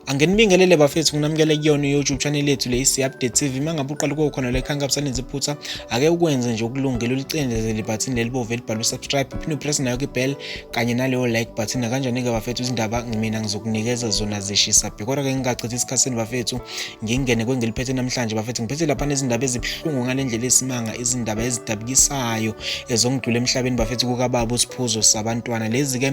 angenibingelele bafethu nginamukele kuyona i-youtube channel yethu le isi-update tv uma ngabe uqala kuwo khona lekhanka busalenza iphutha ake ukwenze nje ukulungela ulicindezele ibhathini lelibovu elibhalwe usubscribe uphinde upress nayo kibhel kanye naleyo like button nakanjani-ke bafethu izindaba mina ngizokunikeza zona zishisa bhe kodwa-ke ngingachithi isikhathi senu bafethu ngingene kwengeliphethe namhlanje bafethu ngiphethe lapha nezindaba ezibuhlungu ngale ndlela esimanga izindaba ezidabukisayo ezongidlula emhlabeni bafethu kukababa usiphuzo sabantwana lezi-ke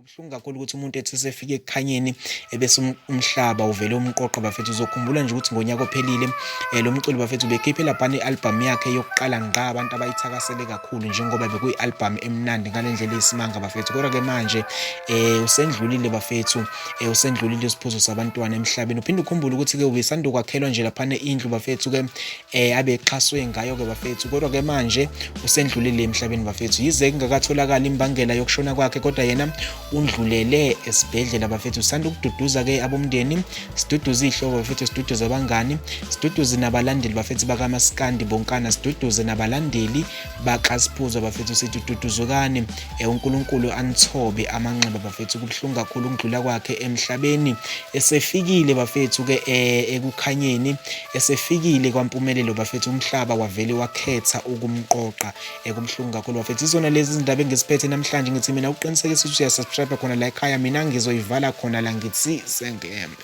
Kubuhlungu kakhulu ukuthi umuntu ethi usefike ekukhanyeni ebese um, umhlaba uvele umqoqo bafethu uzokhumbula nje ukuthi ngonyaka ophelile um lo mculi bafethu bekhiphe laphana i-albhamu yakhe yokuqala ngqa abantu abayithakasele kakhulu njengoba bekuyi-albhamu emnandi ngale ndlela eyisimanga bafethu kodwa-ke manje um usendlulile bafethu um usendlulile isiphuzo sabantwana emhlabeni uphinde ukhumbule ukuthi-ke ubesandokwakhelwa nje laphana indlu bafethu-ke eh abexhaswe ngayo ke bafethu kodwa ke manje usendlulile emhlabeni bafethu yize kungakatholakala imbangela yokushona kwakhe kodwa yena undlulele esibhedlela bafethu sanda ukududuza ke abomndeni siduduza ihlobo bafethu siduduza abangani siduduze nabalandeli bafethu bakamaskandi bonkana siduduze nabalandeli bakaSiphuzo bafethu sithi duduzukani eh, uNkulunkulu anithobe amanxeba bafethu kubuhlungu kakhulu ukudlula kwakhe emhlabeni esefikile bafethu ke eh, ekukhanyeni Esefikile kwaMpumelelo bafethu umhlaba wavele wakhetha ukumqoqa ekubuhlungu kakhulu bafethu izona lezi izindaba engiziphethe namhlanje ngithi mina uqinisekisa ukuthi uyasubscribe khona la ekhaya mina ngizoyivala khona la ngithi sengembe